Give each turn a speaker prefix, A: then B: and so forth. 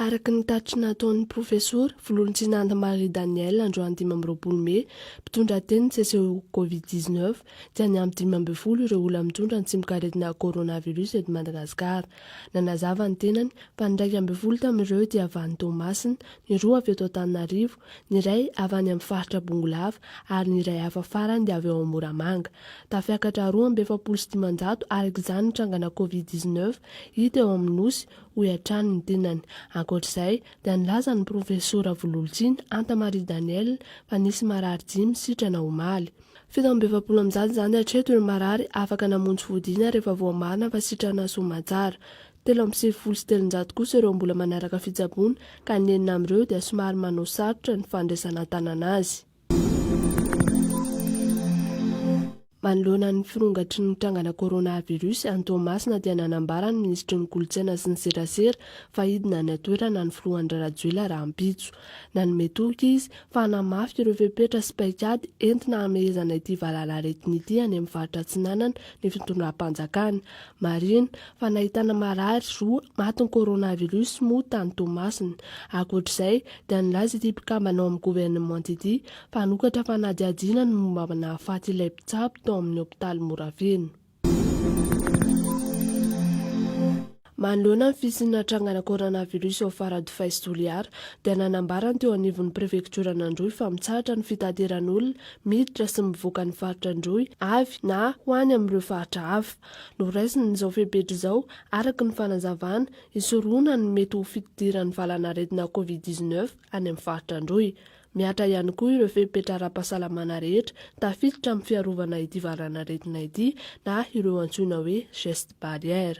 A: Araka ny tatitra nataon'ny Profesora Vololonjinanda Marie Danielle androany dimy amby roapolo mey, mpitondra teny ny seseho Covid 19, dia niampy dimy ambin'ny folo ireo olona mitondra ny tsimokaretina Coronavirus eto Madagasikara. Nanazava ny tenany fa ny iraika ambin'ny folo tamin'ireo dia avy any Toamasina, ny roa avy eto Antananarivo ny iray avy any amin'ny faritra Bongolava ary ny iray hafa farany dia avy ao Moramanga. Tafiakatra roa amby efapolo sy dimanjato araka izany ny trangana Covid dix neuf hita eo amin'ny Nosy, hoy hatrany ny tenany. Ankoatra izay dia nilaza ny profesora Vololontsiny Anta Marie Danielle fa nisy marary dimy sitrana omaly. Fito amby efapolo amin'izany izany hatreto ireo marary afaka namonjy fodiana rehefa voamarina fa sitrana Soamantsara. Telo amby sivifolo sy telonjato kosa ireo mbola manaraka fitsaboana ka ny enina amin'ireo dia somary manao sarotra ny fandraisana an-tanana azy. Manoloana ny firongatry ny trangana coronavirus any Toamasina dia nanambara ny minisitry ny kolontsaina sy ny serasera fa hidina any an-toerana ny filoha Andry Rajoelina rahampitso. Nanome toky izy fa hanamafy ireo fepetra sy paikady entina hamehezana ity valanaretina ity any amin'ny faritra Atsinanana ny fitondram-panjakana. Marihina fa nahitana marary roa matin'ny coronavirus moa tany Toamasina. Ankoatra izay dia nilaza ity mpikambana ao amin'ny governemanta ity fa hanokatra fanadihadiana ny momba ny nahafaty ilay mpitsabo tao amin'ny hopitaly Morafeno. Manoloana ny fisian'ny natrangana coronavirus ao Faradofay sy Toliara dia nanambara ny teo anivon'ny prefektioran'Androy fa mitsahatra ny fitateran'olona miditra sy mivoaka ny faritra Androy avy na ho any amin'ireo faritra hafa. noraisin'izao fepetra izao araka ny fanazavana, hisorohana ny mety ho fidiran'ny valan'aretina covid dix neuf any amin'ny faritra Androy. Mihatra ihany koa ireo fepetra ara-pahasalamana rehetra tafiditra amin'ny fiarovana ity valan'aretina ity na ireo antsoina hoe gestes barrières.